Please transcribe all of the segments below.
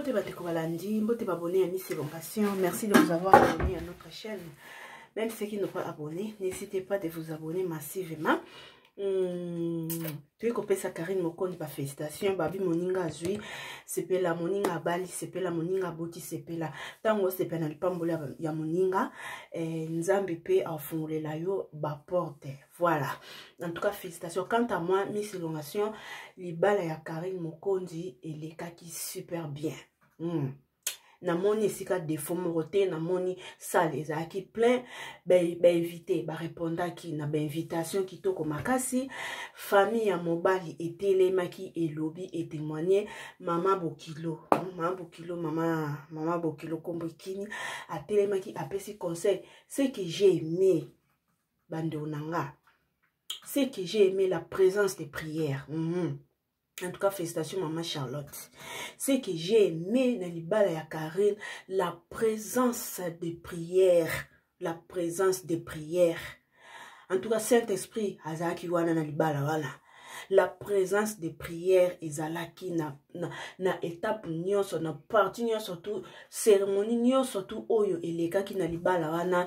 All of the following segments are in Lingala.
Mbote bandeko balandi, mbote babone ya Miss Elongation. Merci de vous avoir abonné à notre chaîne. Même ceux qui n'ont pas abonné, n'hésitez pas de vous abonner massivement. Hmm, toyei kopesa karine mokondi bafélicitation babi moninga azwi sepela moninga abali sepela moninga aboti sepela ntango osepela na lipamboli ya moninga eh, nzambe mpe afungolela yo baporte Voilà. En tout cas, félicitations. Quant à moi, Miss Elongation, libala ya Karine Mokondi elekaki super bien. Hmm. namoni esika defo moko te namoni sale ezalaki plein bainvite ba barépondaki na bainvitation kitoko makasi famille ya mobali etelemaki elobi etémoigne mama bokilo mama bokilo mama mama bokilo nkombo ekini atelemaki apesi conseil ce que j'ai aimé bandeko na nga ce que j'ai aimé la présence des prières mm -hmm. en tout cas félicitation maman charlotte ce que j'ai aimé na libala ya karine la présence des prières la présence des prières en tout cas saint esprit azalaki wana na libala wana la présence des prières ezalaki na, na, na étape nyonso na parti nyonso tu cérémonie nyonso tu oyo elekaki na libala wana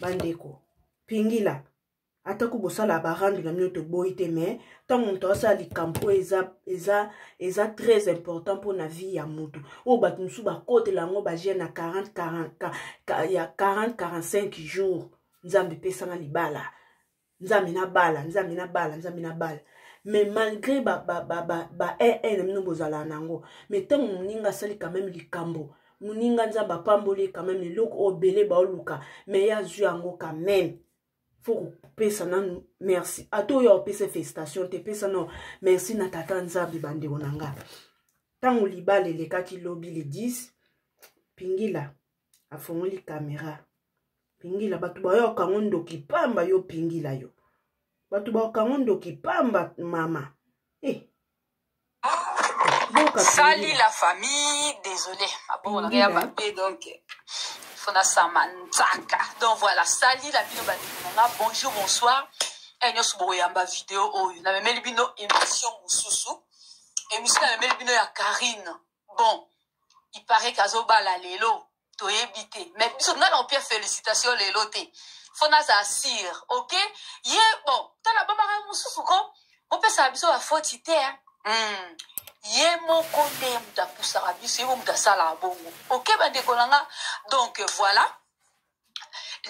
bandeko pingila atako bosala barando na bino toboyi te mais ntango moto asala likambo oyo eza, eza, eza très important mpo na vie ya moto oyo bato mosusu bakotela yango bagene na 40, 40, ya 40 45 jours nzambe epesanga libala nzambe nabala nzambe nabala nzambe nabala mais malgré ba ba ba ba ba eh, eh, na bino bozalaka na yango mais ntango moninga asali quand même likambo moninga nzambe apamboli quand même eloko oyo bele baoluka mais ye azwi yango quand même fo kopesa nanu merci ata oyo aopesa félicitation te pesa nao merci na tata nzambe bandeko na nga ntango libala elekaki lobi le 10 pingila afongoli kamera pingila bato bayoka yango ndoki pamba yo pingila yo bato bayoka yango ndoki pamba mama e eh. sali la famille désolé abongolaka ya bape donc fona sama nzaka donc voilà sali la bino bandeko na nga bonjour bonsoir e nyonso bokoyamba video oyo namemeli bino émission mosusu émission namemeli bino ya karine bon il paraît que azobala lelo toyebi te mais biso nga na opia félicitation lelo te fo nazala sire ok ye bon tala babaka mosusu ko bopesaka biso bafoti te hmm. ye moko nde ye moto apusaka biso ye mo moto asalaka bongo ok bandeko na nga donc voilà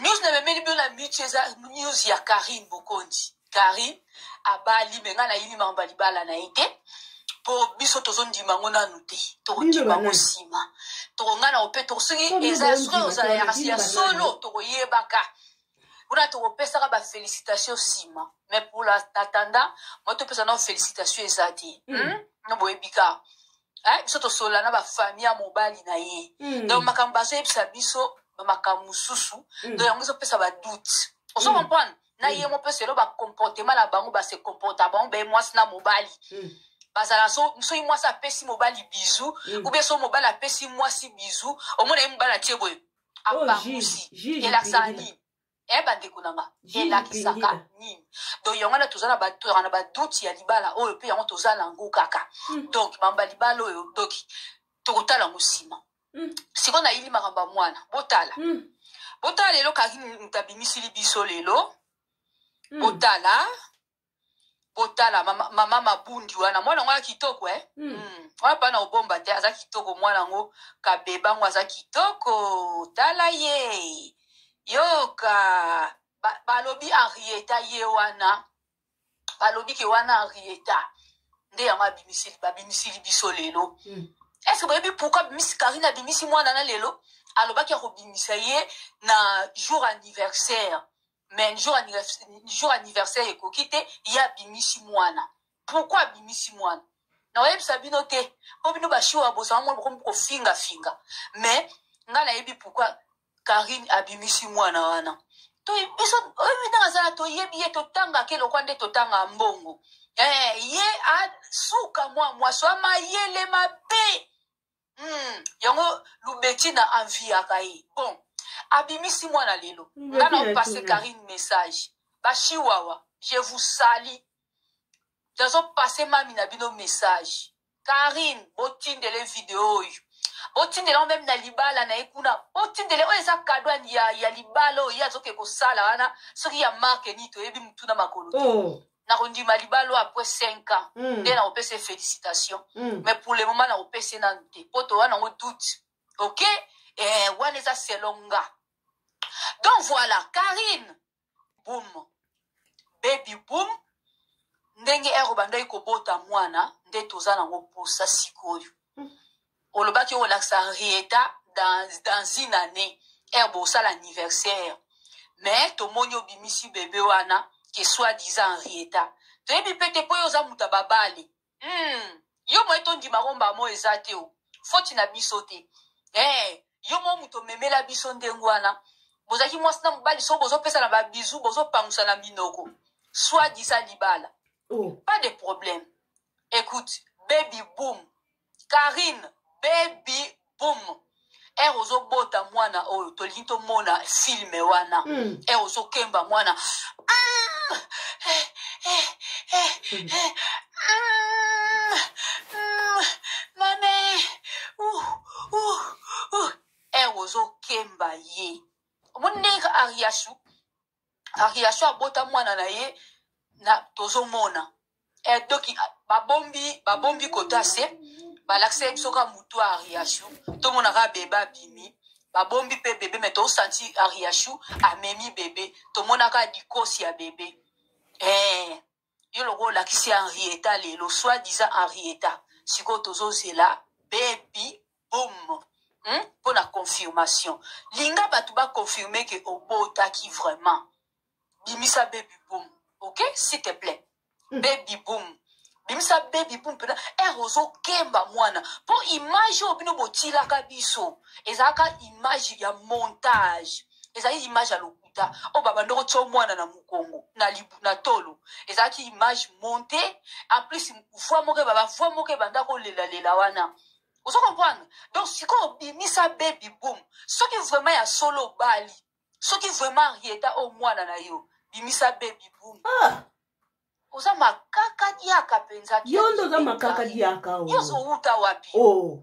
news na memeli bino na mutu eza news ya karine bokonzi karine abali me ngai nayini makambo ya libala na ye te mpo biso tozondima yango nanu te tokondima yango nsima tokongai na ope soki eza soki ozala ya solo tokoyebaka kuna tokopesaka bafélicitation nsima mais pour la tatanda moi topesa nao félicitation eza te hmm? no boyebika eh, biso tosolola na bafamille ya mobali na ye mm. donc makambo bazoyebisa biso bamakambo mosusu mm. donc yango ezopesa badoute ozo mm. comprendre na ye mo mpe selo bacomportement na bango base comporta bango baye mwasi na mobali mm. bazala soki mwasi apesi mobali bizu mm. ube so mobali apesi mwasi bizu omona ye mobali atie boye oh, apangusi elakisaka nini eh bandeko na nga elakisaka nini donc yango wana toza na toyaka na badoute ya libala oyo mpe yango toza na yango kaka hmm. donc mamba libala oyo donc tokotala yango nsima hmm. sikoyo nayili makambo ya mwana botala hmm. botala lelo kaki moto abimisili biso lelo botala botala mama, mama mabundi wana mwana yango ya kitoko eh? mm. Mm. wana mpa na obomba te aza kitoko mwana yango kabeba yango aza kitoko tala ye yoka balobi ba henrieta ye wana balobi ke wana henrieta nde yango abimisili babimisili biso lelo mm. eske boyebi pourkui abimisi karine abimisi mwana na lelo alobaki akobimisa ye na jour anniversaire mais jour jour anniversaire ekoki te ye abimisi mwana pourkui abimisi mwana nakoyebisa bino te mpo bino bashiwa bozala mwana bokomi kofingafinga mais ngai nayebi pourkui karine abimisi mwana wana biso oyebi ndenge azala toyebi ye totangaka elokwa nde totangaka mbongo eh, ye asuka mwa mwasi wa mayele mabe Hmm, yango lubeki na enviaka ye bon abimisi mwana lelo nga na opase karine message bashiwawa je vous sali nazopase mami na bino message karine botindele video oyo botindela ngo meme na libala na ye kuna botindele oyo eza kado ya, ya libala oyo ye azoke kosala wana soki ya marke nini toyebi motuna makolo te oh. nakondima libalo après 5 ans mm. nde nakopesa ye félicitation mm. mais pour le moment nakopesa ye nanu te mpo towa nango doute ok eh, wana eza selo nga donc voilà karine boum baby boum ndenge ero bandaki kobota mwana nde toza nango mposa sikoyo mm. olobaki okolakisa rieta dans, dans une année ere bosala anniversaire mais tomoni obimisi bebe wana ke soit disant rieta toyebi mpe te mpo yo oza moto ya babale hmm. yo moye tondima komba mo eza te o foti na biso te hey, eh, yo mo moto omemela biso ndenge wana bozalaki mwasi na mobali so bozopesa na babizu bozopangusa na minoko soit disa libala oh. pas de problème écoute baby boom Carine baby boom ere ozobota mwana oyo tolingi tomona filme wana mm. ere ozokemba mwana mm. eh, eh, eh, mm. eh. Mm. Mm. mame uh, uh, uh. ere ozokemba ye omoni ndenge ariasu variation abota mwana na ye na tozomona edoki eh, babombi babombi kota se balakisa ye biso kaka motu ya ariashu tomona kaka bebe abimi babombi mpe bebe me tosanti ariashu amemi bebe tomonaka dikosi ya bebe eh. yo lokola olakisi henrieta lelo soit disant henrieta sikoyo tozozela bebi bom hmm? mpo na confirmation linga bato baconfirme ke obotaki vraiment bimisa bebi bom ok s'il te plaît hmm. bebi bom bimisa bebi bom mpena ere ozokemba mwana mpo image oyo bino botilaka biso ezalaka image ya montage ezalaki image ya lokuta oyo babanda kotya mwana na mokongo na, na tolo ezalaki image monte en plus voi moko ebaba voi moko ebanda kolelalela wana ozo comprendre donc sikoyo obimisa baby boom soki vraiment ya solo obali soki vraiment rieta oyo mwana na yo bimisa baby boom ah. oza makaka diaka mpenza yo nde oza makaka diaka yo ozowuta wapi oh.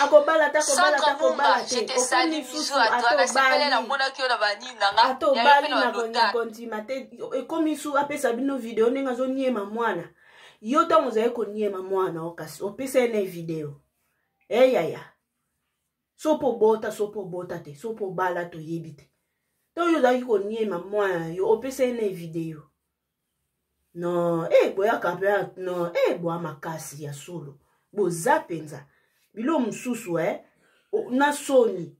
akobala te akobala te akobala te okomi susu atobali na kondima te ekomi su apesa bino video ndenge azoniema mwana yo ntango ozali koniema mwana o kasi opesa ye na video eyaya eh, sopo obota sopo obota te sopo obala toyebi te ntango yo ozalaki koniema mwana yo opesa ye na video non e eh, boyaka mpe non e eh, boya makasi ya solo boza mpenza bilo mosusu e eh? na soni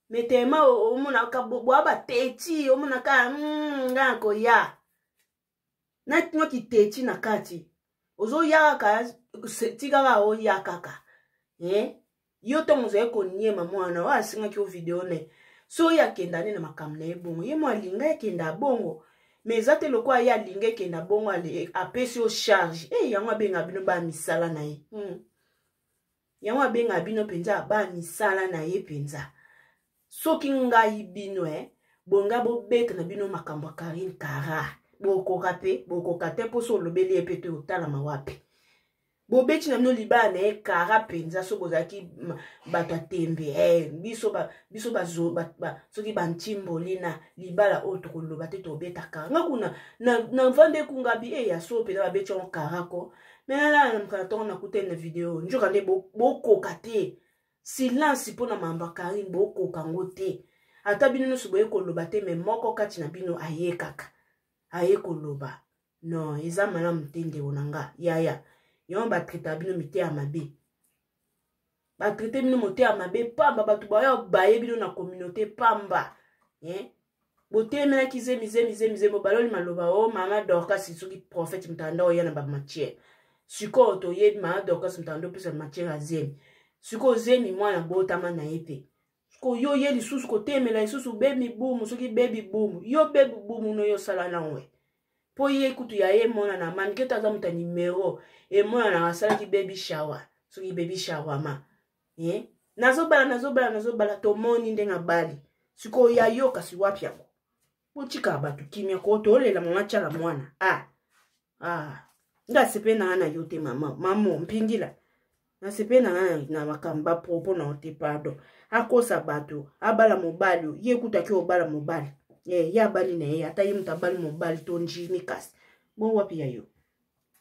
metema omonaka boya bateti omonaka hmm, nga koya natino kiteti na kati ozoya kaka tika kaka oya kaka eh? yo ntango ozali koniema mwana oyo asengaki yo video ne so oyo akenda nde na makambo na ye bongo ye mo alinga ekenda bongo mais eza te lokola ye alinga ekenda bongo apesi yo charge e eh, yango abenga bino baa misala na ye hmm. yango abenga bino mpenza baa misala na ye mpenza soki ngai bino eh, bonga bobeta na bino makambo ya karine kara bokoka mpe bokoka te mposo olobeli ye mpe te otalama wapi bobeti na bino libala na ye kara mpenza soki bozalaki bato ya tembe eh, biso biso bazo ba, ba, soki bantimboli na libala oyo tokoloba te tobeta kara nga kuna na mvanda ekungabi e eh, ya so mpenza babeti yango kara ko me nalala na mokana ntongo nakutani na video njoka nde bokoka te silence mpo na mambo ya karine bokoka yango te ata bino nyonso boye koloba te me moko kati na bino aye kaka aye koloba non eza malamu te ndeko na nga yaya yango batraitaka bino miteya mabe batraite bino moteya mabe pamba bato bayo baye bino na communauté pamba eh? botemelaki zemi zemi zemi zemi obaloli maloba o oh, mama dorcas soki prophète mutanda oya na bamatière sikoyo toyebi mama dorcas mutanda opesa matière ya zemi sikoyo zemi mwana botama na ye te koyo ye lisusu kotemela lisusu bebi bumu soki bebi bumu yo bebi bumu no yo osala nango ye mpo ye kutu ya ye emonana manike to aza moto ya nimero emonanaka asalaki bebi shawa soki bebi shawama eh? nazobala nazobala nazobala tomoni ndenge abali sikoyo ya yo kasi wapi yango botika bato kimia ko tolela mama tyala mwana a ah. ah. nga sepe na nga na yo te mama mamo mpingila nasepe na nga na makambo bapropo na yo te pardon akosa bato abala mobali ye ekutaki obala mobali eh, ye abali na ye ata ye moto abali mobali to njimi kasi bo wapi ya yo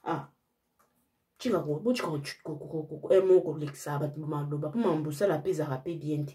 ah. tika botika emo eh, kolekisa bato maloba mpo mambo osala mpe ezalaka mpe bien te